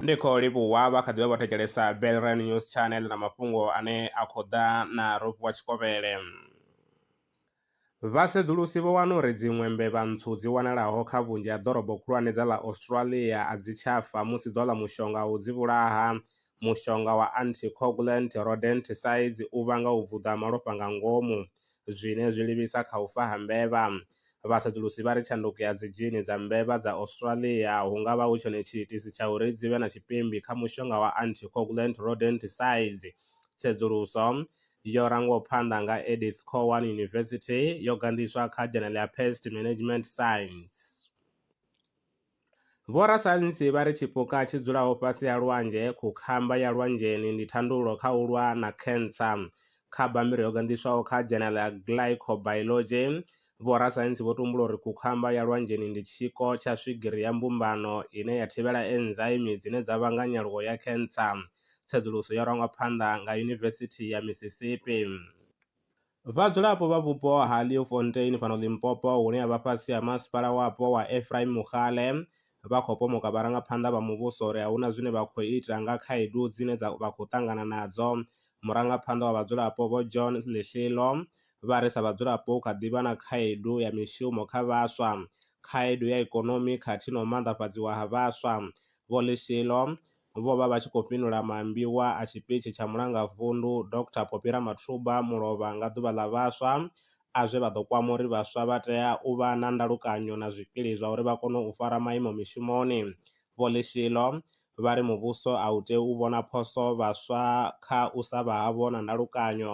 ndi khou livhuwa vha kha ḓivha vho thetshelesa belran news channel na mafhungo ane a khou ḓa na rope wa tshikovhele vhasedzulusi vho wana uri dziṅwe mbevha ntswu dzi wanalaho kha vhunzhi ha ḓorobo khulwane dza ḽa australia a dzi tshafa musi dzo ḽa mushonga u dzi vhulaha Mushonga wa anticoagulant rodenticides u vhanga u vuḓa ha malofha nga ngomu, zwine zwi livhisa kha u fa ha mbevha. Vhasedzulusi vha ri tshanduko ya dzidzhini dza mbevha dza Australia hu nga vha hu tshone tshiitisi tsha uri dzi vhe na tshipimbi kha mushonga wa anticoagulant rodenticides. Tsedzuluso, yo rangwaho phanḓa nga Edith Cowan University, yo ganḓiswa kha dzhenele ya Pest Management Science. Vhorasaintsi vha ri tshipuka tshi dzulaho fhasi ha lwanzhe, khukhamba ya lwanzheni, ndi thandululo kha u lwa na khentsa. Kha bammbiri yo ganḓiswaho kha Journal ya Glycobiology, vhorasaintsi vho tumbula uri khukhamba ya lwanzheni ndi tshiko tsha swigiri ya mbumbano ine ya thivhela enzaimi dzine dza vhanga nyaluwo ya khentsa. Tsedzuluso yo rangwa phanḓa nga Yunivesithi ya Mississippi. Vhadzulapo vha vhupo ha Leeuwfontein fhano Limpopo hune ha vha fhasi ha masipala wapo wa Ephraim Mogale vha khou pomoka vharangaphanḓa vha muvhuso uri a hu na zwine vha khou ita nga khaedu dzine dza vha khou ṱangana nadzo. Murangaphanḓa wa vhadzulapo Vho John Lihlilo vha ri sa vhadzulapo hu kha ḓi vha na khaedu ya mishumo kha vhaswa, khaedu ya ikonomi khathihi na u maanḓafhadziwa ha vhaswa. Vho Lihlilo vho vha vha tshi khou fhindula maambiwa a tshipitshi tsha Mulangavundu Dr Phophi Ramathuba Mulovha nga Ḓuvha ḽa Vhaswa a zwe vha ḓo kwama uri vhaswa vha tea u vha na ndalukanyo na zwikili zwa uri vha kone u fara maimo mishumoni. Vho Lishilo vha ri muvhuso a u tei u vhona phoso vhaswa kha u sa vha havho na ndalukanyo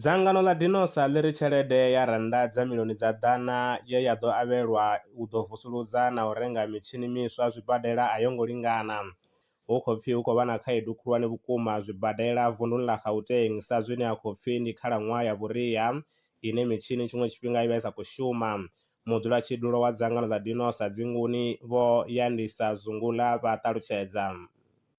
Dzangano ḽa Dinosa ḽi ri tshelede ya rannda dza miḽioni dza ḓana ye ya ḓo avhelwa u ḓo vusuludza na u renga mitshini miswa zwibadela a yo ngo lingana. Hu khou pfi hu khou vha na khaedu khulwane vhukuma zwibadela vunḓuni ḽa Gauteng sa zwine ha khou pfi ndi khalaṅwaha ya vhuria ine mitshini tshiṅwe tshifhinga i vha i sa khou shuma. Mudzulatshidulo wa dzangano ḽa Dinosa dzinguni, Vho Yandisa Zungula vha ṱalutshedza.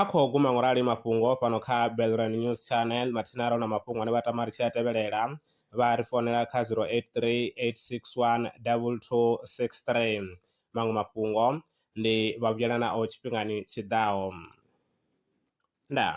A khou guma ngo rali mafhungo fhano kha Belrand News Channel. Mathina ro na mafhungo ane vha tama ri tshi a tevhelela, vha ri founela kha 0838612263. Maṅwe mafhungo ndi vha vhuyela nao tshifhingani tshi ḓaho. Ndaa.